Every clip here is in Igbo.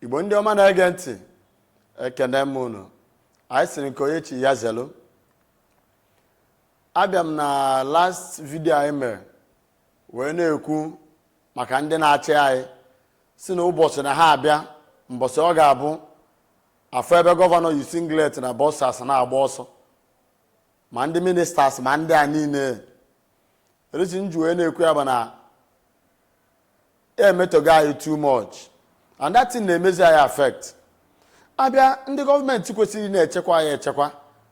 igbo ndị ọma na-ege ntị ekene m unu anyị sịrị nke onye chi ya zelu abịa m na last video anyị mere wee na-ekwu maka ndị na-achị anyị sị na ụbọchị na ha abịa mbọchị ọ ga-abụ a fụ ebe gọvanọ yi singlet na boxers na-agba ọsọ ma ndị ministers ma ndị a niile e resignjuo wee na-ekwu ya bụ na emetogo anyị too much and that thing na-emezi anyị affect abịa ndị gọọmenti kwesịrị na-echekwa anyị echekwa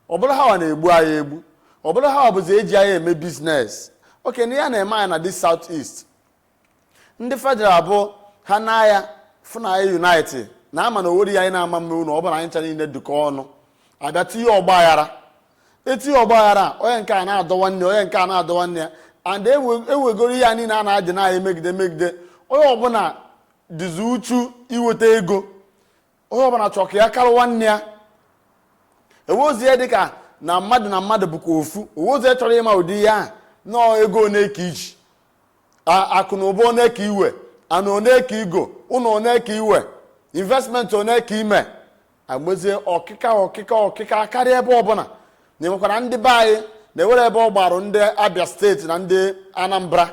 ọ bụrụ ha na-egbu anyị egbu ọ bụrụ ha bụzi eji anyị eme business okay na ya na-eme anyị na the south east ndị federal bụ ha n'anya fụ na anyị unite na a ma na o wero ihe anyị na-ama eme na ọ bụrụ na anyị ncha niile dịkọ ọnụ abịa tinye ọgba aghara etinye ọgba aghara onye nke a na-adọ nwanne onye nke a na-adọ nwanne ya and e wegoro ihe a niile a na-adị na emegide megide onye ọbụla dịzi uchu iweta ego onye ọbụla chọrọ ka ya karịa nwanne ya e nwerozi ihe dịka na mmadụ na mmadụ bụkwa ofu o nwerozi onye chọrọ ịma ụdị ihe a na ọọ ego one ka i ji akụ na ụba one ka i we ana one ka i go ụlọ one ka i we investment one ka i me a gbazie ọkịka ọkịka ọkịka karịa ebe ọbụla na-enwekwara ndị be anyị na-ewere ebe ọ gbarụ ndị abia state na ndị anambra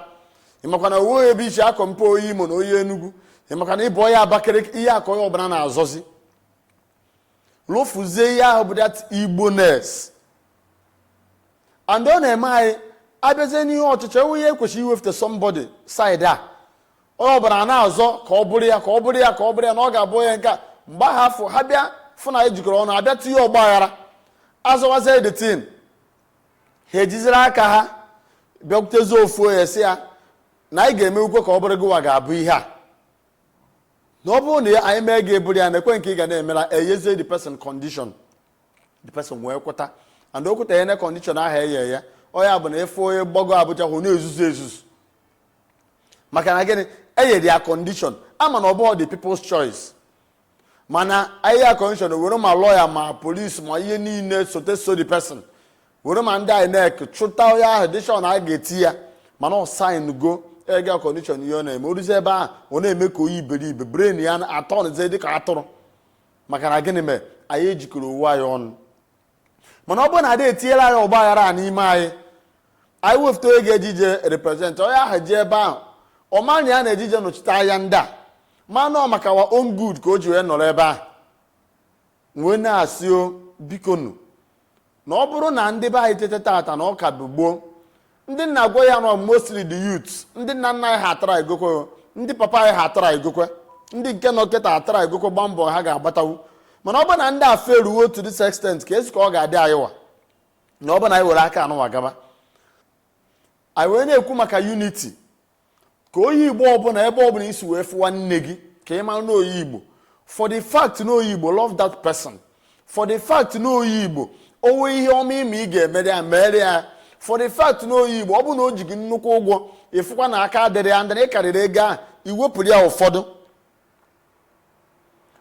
ị makwa na o we ebe i si a compare onye imo na onye enugwu ị makwa na ị bụ onye abakaliki ihe a ka onye ọbụla na-azọzi lofuzie ihe ahụ bụ that igboness and ọ na-eme anyị abịazie n'ihe ọchịchị enwe ihe e kwesịrị iwefụta somebody side a onye ọbụla a na-azọ ka ọ bụrụ ya ka ọ bụrụ ya ka ọ bụrụ ya na ọ ga-abụ onye nke mgbe afụ ha bịa fụ na ejikọrọ ọnụ abịa tinye ọgba aghara a zọwazie the thing ha ejiziri aka ha bịakwutezi ofu onye sị ya na anyị ga-emewukwa ka ọ bụrụ gịwa ga-abụ ihe a na ọ bụrụ na anyị mee gị ị bụrụ ya nekwa nke ị ga na-emela eyezie the person condition the person wee kweta and o kweta ya na condition ahụ eye ya onye bụ na efe onye gbago abuja ọ na-ezuzu ezuzu maka na gịnị e yere ya condition a ma na ọ bụghị the people's choice mana e ye ya condition were ma lawyer ma police ma ihe niile sote so the person were ma ndị INEC chọta onye ahụ dị sure na a ga-etiye ya mana ọ signgo ega condition ihe ọ na-eme o ruzie ebe ahụ ọ na-eme ka onye iberibe brain ya aturnụzie dịka atụrụ maka na gịnị mere anyị ejikọrọ onwe anyị ọnụ mana ọ bụrụ na ada etinyela anyị ọgba aghara a n'ime anyị anyị wefụta onye ga-eje ije represent onye ahụ jee ebe ahụ ọ ma na ya na-eje ije nọchite anya ndị a mana ọ maka wa own good ka o ji wee nọrọ ebe ahụ wee na-asị o bikonu na ọ bụrụ na ndị be anyị teta tata na ọ ka bụ gboo ndị m na-agwa ha nụ mostly the youth ndị nna nna anyị ha atara igokwe ndị papa anyị ha atara igokwe ndị nke nọ kịta atara igokwe gbaa mbọ ha ga-agbatawu mana ọ bụ na ndị afọ eruwo to this extent keezi ka ọ ga-adị anyị wa na ọ bụ na anyị were aka anụwa gaba anyị wee na-ekwu maka unity ka onye igbo ọbụla ebe ọbụla i si wee fụ nwanne gị ka ị mara na onye igbo for the fact na onye igbo love that person for the fact na onye igbo o nwee ihe ọma ị ma ị ga-emere ya mere ya for the fact na onye igbo ọ bụ na o ji gị nnukwu ụgwọ ị fụkwa na aka adịrị ya and ị karịrị ego ahụ i wepụrụ ya ụfọdụ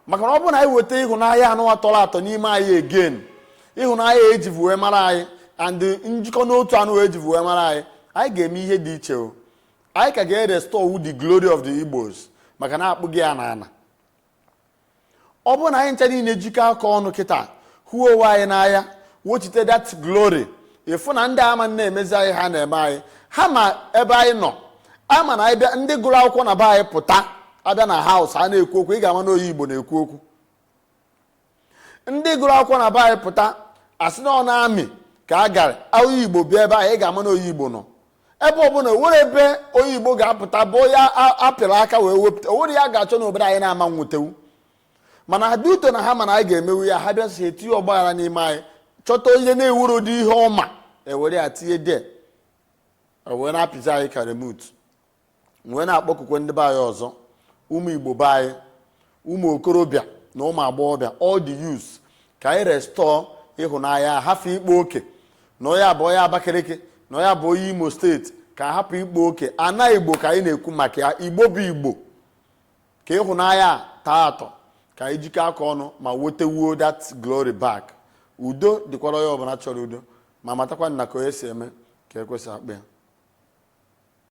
maka na ọ bụ na anyị weta ịhụnanya anụwa tọrọ atọ n'ime anyị again ịhụnanya ejivu wee mara anyị and njikọ n'otu anụwa ejivu wee mara anyị anyị ga-eme ihe dị iche ọ anyị ka ga-erestore the glory of the Igbos maka na a kpụgo ya n'ana ọ bụ na anyị ncha niile jikọ aka ọnụ kịta hụ onwe anyị n'anya wochite that glory ị fụ na ndị ama na-emezi anyị ha na-eme anyị ha ma ebe anyị nọ a ma na a bịa ndị gụrụ akwụkwọ na be anyị pụta a bịa na house a na-ekwu okwu ị ga-ama na onye igbo na-ekwu okwu ndị gụrụ akwụkwọ na be anyị pụta a sị na ọ na army ka a gara onye igbo bịa ebe anyị ị ga-ama na onye igbo nọ ebe ọbụla o nwere ebe onye igbo ga-apụta bụ ya apịrị aka wee wepụta o nwere ihe a ga-achọ na obodo anyị na-ama wetewu mana ha dị ụtọ na ha ma na anyị ga-emewu ya ha bịazie tinye ọgbaghara n'ime anyị chọta onye na-ewuru ụdị ihe ọma ewere ya tinye there wee na-apịzi anyị ka remote wee na-akpọkukwe ndị be anyị ọzọ ụmụ igbo be anyị ụmụ okorobịa na ụmụ agbọghọbịa all the youths ka anyị restore ịhụnanya hafụ ịkpa oke na onye a bụ onye abakaliki na onye a bụ onye imo state ka hapụ ịkpa oke ana igbo ka anyị na-ekwu maka ya igbo bụ igbo ka ịhụnanya a tọọ atọ ka anyị jikọ aka ọnụ ma wetewuo that glory back udo dịkwara onye ọbụla chọrọ udo ma matakwa na ka onye si eme ka ekwe si akpọ ya